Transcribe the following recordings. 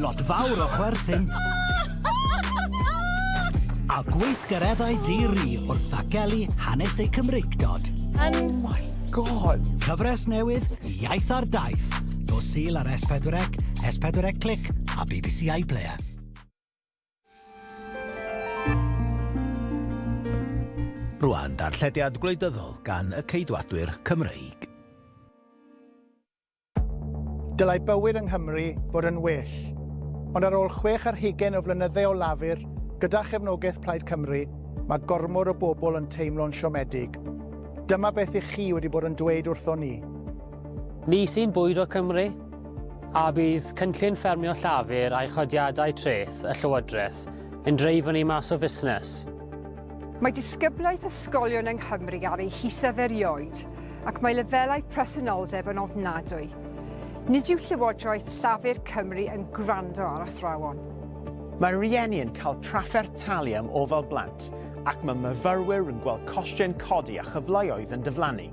Lot fawr o chwerthin. A gweithgareddau di-ri wrth ddagelu hanes eu Cymreictod. Oh my God! Cyfres newydd, Iaith ar Daith, nos Sul ar S4C, S4C Click a bbc iPlayer. Rwan, darllediad gwleidyddol gan y Ceidwadwyr Cymreig. Dylai bywyd yng Nghymru fod yn well. Ond ar ôl chwech ar hugain o flynydde o Lafur, gyda chefnogaeth Plaid Cymru, mae gormod o bobl yn teimlo'n siomedig. Dyma beth ych chi wedi bod yn dweud wrthon ni. Ni sy'n bwydo Cymru? A bydd cynllun ffermio Llafur a'i chodiadau treth y Llywodraeth yn dreifo ni mas o fusnes? Mae disgyblaeth ysgolion yng Nghymru ar ei hysaf erioed. ac mae lefelau presenoldeb yn ofnadwy. Nid yw Llywodraeth Llafur Cymru yn gwrando ar athrawon. Mae rhieni yn cael trafferth talu am ofal blant ac mae myfyrwyr yn gweld costiau'n codi a chyfleoedd yn diflannu.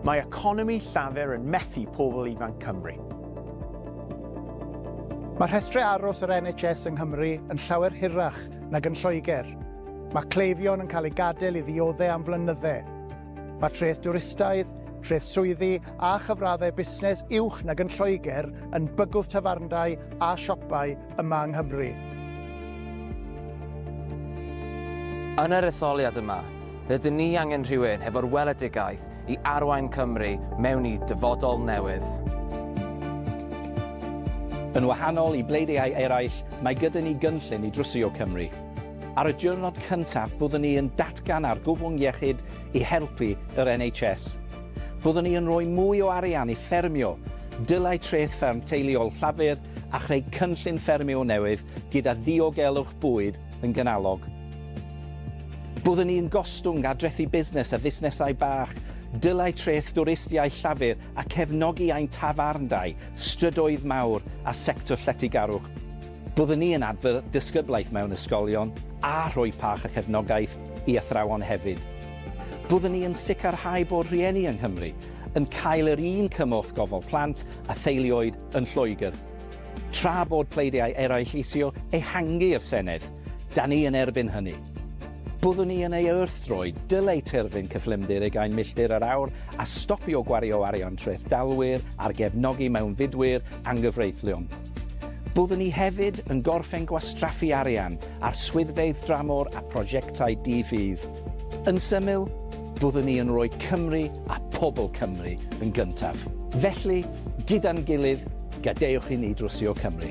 Mae economi Llafur yn methu pobl ifanc Cymru. Mae rhestrau aros yr NHS yng Nghymru yn llawer hirach nag yn Lloegr. Mae cleifion yn cael eu gadael i ddioddef am flynyddau. Mae treth dwristaidd, treth swyddi a chyfraddau busnes uwch nag yn Lloegr yn bygwth tafarndai a siopau yma yng Nghymru. Yn yr etholiad yma, rydyn ni angen rhywun hefo'r weledigaeth i arwain Cymru mewn i dyfodol newydd. Yn wahanol i bleidiau eraill, mae gyda ni gynllun i drwsio Cymru. Ar y diwrnod cyntaf byddwn ni yn datgan argyfwng iechyd i helpu yr NHS. Byddwn ni yn rhoi mwy o arian i ffermio, dylai treth fferm teuluol Llafur a chreu cynllun ffermio newydd gyda ddiogelwch bwyd yn ganolog. Byddwn ni yn gostwng ar drethi busnes a fusnesau bach, dylai treth dwristiaeth Llafur a cefnogi ein tafarndai, strydoedd mawr a sector lletygarwch. Byddwn ni yn adfer disgyblaeth mewn ysgolion a rhoi pach a chefnogaeth i athrawon hefyd. Byddwn ni yn sicrhau bod rhieni yng Nghymru yn cael yr un cymorth gofal plant a theuluoedd yn Lloegr. Tra bod pleidiau eraill isio ehangu i'r Senedd, da ni yn erbyn hynny. Byddwn ni yn ei wrthdroi, dylai terfyn cyflymder ugain milltir yr awr a stopio gwario arian trethdalwyr ar gefnogi mewnfudwyr anghyfreithlon. Byddwn ni hefyd yn gorffen gwastraffu arian ar swyddfeydd dramor a phrosiectau di-fudd. Yn syml, byddwn ni yn rhoi Cymru a phobl Cymru yn gyntaf. Felly, gyda'n gilydd, gadewch i ni drwsio Cymru.